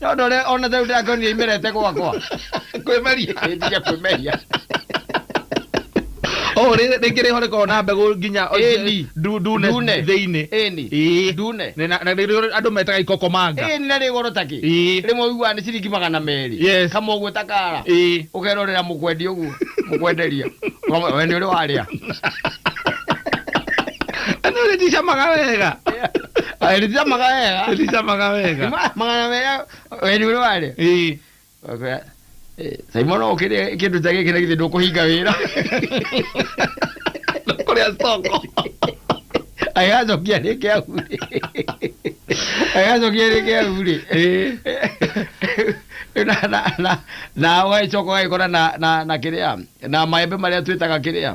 No ndore ona tau ndakoni imerete gwakwa. Kwĩmeria. Nĩndige kwĩmeria. Oh, rĩ- rĩngĩ rĩho rĩkoragwo na mbegũ nginya Ĩni. ndu- ndune Ndune. thĩinĩ. Ĩni. Ĩĩ. Ndune. Nĩ na- na nĩrĩo andũ metaga ikokomanga. Ĩni na rĩ goro takĩ. Ĩĩ. Rĩmwe ũiguaga nĩ ciringi magana merĩ. Yes. Kama ũguo ta kara. Ĩĩ. Ũkerorera mũkwendi ũguo. Mũkwenderia. Ũkamwĩra, We nĩ ũrĩ warĩa. Na nĩ ũrĩticamaga wega. Ah, Ĩrĩcamaga wega. Ĩrĩcamaga wega. Ma- Magana mega weni ũrĩa warĩ. Ĩĩ. Wakwĩra, "Eh, Simon no ũkĩrĩe kĩndũ ta gĩkĩ na githĩ ndũkũhinga wĩra. Kũrĩa stoko. Agacokia rĩngĩ ahurĩ. Agacokia rĩngĩ ahurĩ. Ĩĩ. na na na na waicoka ũgagĩkora na na na kĩrĩa na maembe marĩa twĩtaga kĩrĩa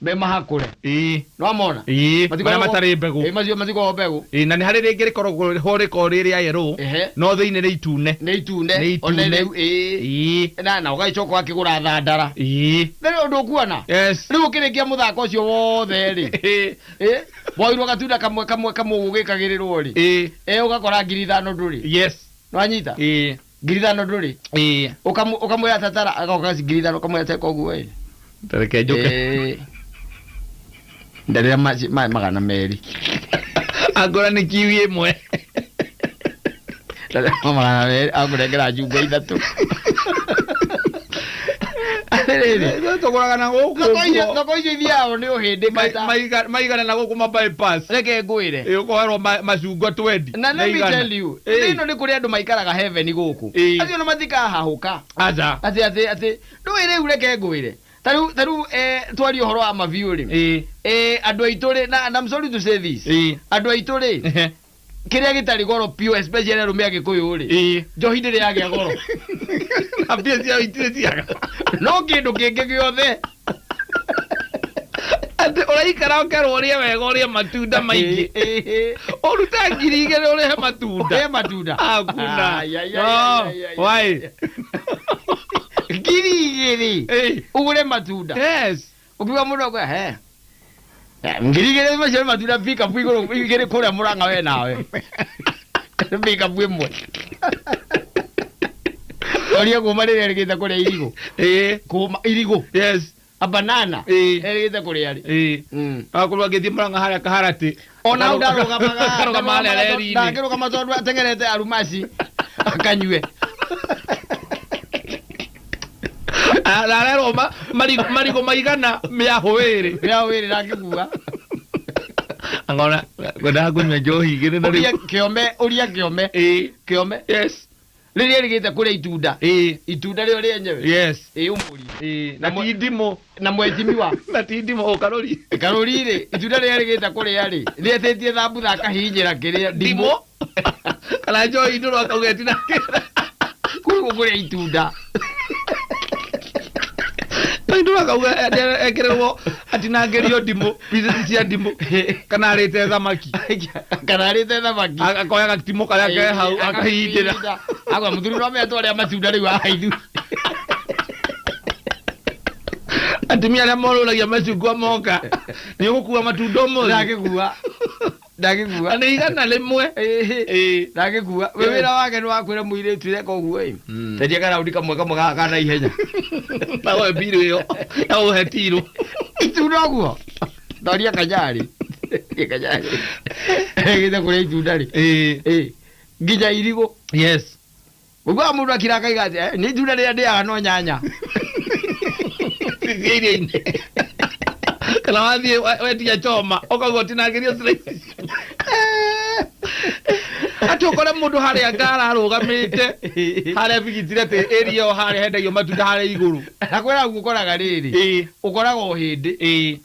me mahakũre. Ĩĩ. Nĩwamona? Ĩĩ, marĩa Matikoragwo- matarĩ mbegũ. Ĩĩ, macio matikoragwo mbegũ. Ĩĩ, na nĩ harĩ rĩngĩ rĩkoragwo ho rĩkoragwo rĩ rĩa yerũũ, Ehe. no thĩinĩ nĩ itune. Nĩ itune. Nĩ itune. Ona rĩu, ĩĩ. Ĩĩ. Na, na ũgagĩcoka ũgakĩgũra thandara. Ĩĩ. Na rĩu ũndũ ũkuona? Yes. Rĩu ũkĩrĩkia mũthako ũcio wothe-rĩ, Ĩĩ. ĩ, woirwo gatunda kamwe kamwe kamwe ũguo ũgĩkagĩrĩrwo-rĩ, Ĩĩ. ĩ, ũgakora ngiri ithano ndũrĩ. Yes. Nĩwanyita? Ĩĩ. ngiri ithano ndũrĩ ĩĩ Ũkamu- ũkamwĩra tatara agoka ngiri ithano ũkamwĩra teka ũguo ĩ tareke njoke Ĩĩ. ndarĩra ma- maĩ magana merĩ angora nĩ kiwi ĩmwe ndarĩra magana merĩ akũrengera njumbe ithatũ atĩrĩrĩ tũgũragana gũkũ thoko icio- nguo. thoko icio ithiaga nĩ ũhĩndĩ Ma- maita maiga- maigana na gũkũ mabypass reke ngwĩre Ĩ, ũkoherwo ma- macungwa 20 na let me igana. tell you Ĩ, thĩ ĩno nĩ kũrĩ andũ maikaraga heaven gũkũ Ĩ. acio nĩ matikahahũka aca atĩ atĩ atĩ ndũĩ rĩu reke ngwĩre ta rĩu ta rĩu eh, twaria ũhoro wa mabiũ rĩ Ĩ, eh, andũ aitũ rĩ na and I'm sorry to say this ĩ, andũ aitũ rĩ ehe. kĩrĩa gĩtarĩ goro piũ especially arũme a gĩkũyũ rĩ ĩĩ njohi ndĩrĩ yagĩa goro na mbia ciao itirĩ ciaga no kĩndũ kĩngĩ gĩothe atĩ ũraikara ũkerwo ũrĩe wega ũrĩe matunda maingĩ ũrute ngiri igĩrĩ ũrĩhe matunda he matunda hakuna Ai, ai, ai, No, ai, ai, why? ngiri igĩrĩ Ĩĩ. ũgũre matunda yes Ũkiuga mũndũ akwe he Eh, ngiri igĩrĩ macio nĩ matunda pikapu igũrũ igĩrĩ kũrĩa mũranga we nawe pikapu ĩmwe orie kũma rĩrĩa rĩgĩte kũrĩa irigũ Eh, kũma irigũ yes. abanana Eh. rĩgĩte kũrĩa rĩ Eh. Mm. Akorwo agĩthiĩ mũranga harĩa kaharati ona u ndarũgamaga Ndarũgamaga ndarũgamaga to- reri-inĩ. ndangĩrũgama tondũ atengerete arumaci akanyue arerwo ma- marigo marigo maigana mĩahũ ĩrĩ rĩa wĩrĩ ndangĩkua angona ngwendaga kũnyua njohi igĩrĩ na ũria rĩu kĩome ũria kĩome Ĩĩ. kĩome yes rĩrĩa rĩgĩte kũrĩa itunda Ĩĩ. itunda rĩo rĩenyewe yes ĩ ũmũri Ĩĩ, na Na mwe- ti ndimũ na mwecimi wa na ti ndimũ o karũri karũri rĩ itunda rĩrĩa rĩgĩte kũrĩa rĩ rĩetĩtie thambutha akahinyĩra kĩrĩa ndimũ ndimũ kana njohi ndũrũ akauga ĩtinangĩra kũrĩa itunda akauga ekererwo atinangĩrio ndimũ pieces cia ndimũ kana arĩte thamaki kana arĩte thamaki A- akoya gatimũ karĩa ke hau akahindĩra agwa mũthuri no metwo arĩa matunda rĩu ahaithu atumia arĩa morũragia macungwa moka nĩ ũgũkua matunda ũmũthĩ ndagĩkua ndagĩkua na nĩ igana rĩmwe Ĩhĩ. Ĩĩ. ndagĩkua wĩ Ĩĩ. wĩra wake nĩ wakwĩra mũirĩtu reka ũguo ĩ Mm. tendia karaũndi kamwe kamwe gaka ka na ihenya na woe mbirũ ĩyo na ũhe tirũ itunda ũguo ndoria kanyarĩ Ndoria kanyarĩ gĩthe kũrĩa itunda rĩ Ĩĩ. Ĩĩ. nginya irigũ yes Ũguo wa mũndũ akira akaiga atĩ, eh, nĩ itunda rĩrĩa ndĩaga no nyanya. Cicia iria-inĩ. Kana wathiĩ we- wetia choma, ũkauga ũtinangĩrio slices. Atĩ ũkore mũndũ harĩa ngara arũgamĩte, harĩa bigitire atĩ area ĩyo harĩa hendagio matunda harĩa igũrũ. Na kwĩra guo ũkoraga rĩrĩ, Ĩĩ, ũkoraga o hĩndĩ. ĩĩ.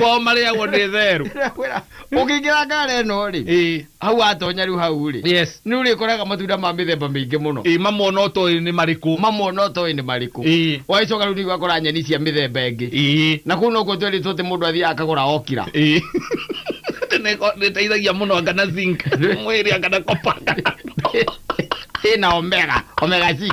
kwao marĩagwo nĩ therũ Ndĩrakwĩra, ũkĩingĩra ngari ĩno rĩ Ĩĩ, hau watonya rĩu hau rĩ yes nĩ ũrĩkoraga matunda ma mĩthemba mĩingĩ mũno Ĩĩ, mamona ũtoĩ nĩ marĩkũ mamona ũtoĩ nĩ marĩkũ Ĩĩ. wagĩcoka rĩu nĩ ũgakora nyeni cia mĩthemba ĩngĩ Ĩĩ, na kũu nokuo twerĩtwo atĩ mũndũ athiaga akagũra okira ĩĩ. Atĩ nĩko- nĩteithagia mũno anga na zinc mwĩrĩ anga na copper, anga na- ĩna omega omega 6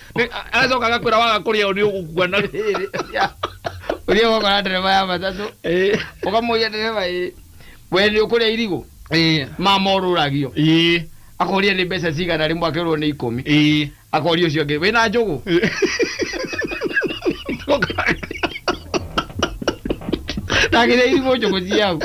Nĩ- a- agacoka agakwĩra waga kũrĩa ũũ nĩ ũgũkua na ũthiĩ ũgakora ndereba ya matatũ Eh, ũkamũria ndereba ĩ we nĩ ũkũrĩa irigũ eh, mama ũrũragio eh, akoria nĩ mbeca cigana rĩmwe akerwo nĩ ikũmi eh. akoria ũcio ũngĩ wĩna njũgũ ndagĩrĩa irigũ njũgũ ciau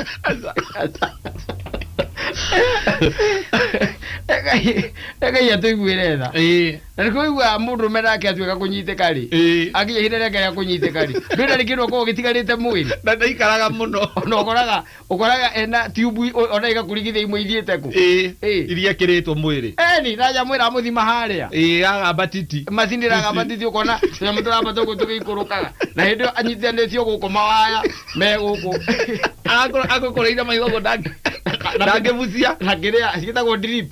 reka iria tũiguĩre tha Eh, Na nĩkĩo ũiguaga mũndũrũme nake atuĩka kũnyitĩka-rĩ, Ĩĩ. akinya ihinda rĩake rĩa kũnyitĩka-rĩ, ndũĩ ndarĩ kĩndũ akoragwo gĩtigarĩte mwĩrĩ. Na ndaikaraga mũno. Ona ũkoraga, ũkoraga ena tube i- o- ona igakũringithia imwe ithiĩte kũ? Ĩĩ. Ĩĩ. Iria ekĩrĩtwo mwĩrĩ. Eni, na nyamũ ĩramũthima harĩa. Ĩĩ, ya gamba titi. Macini ĩragamba titi ũkona tũnyamũ tũrambata ũguo tũgĩikũrũkaga. Na hĩndĩ ĩyo anyitithanĩtio gũkũ mawaya me gũkũ. Agũkũ- agũkũrĩire maitho ũguo ndangĩ- Na- ndangĩbucia. Na kĩrĩa, cigĩtagwo drip.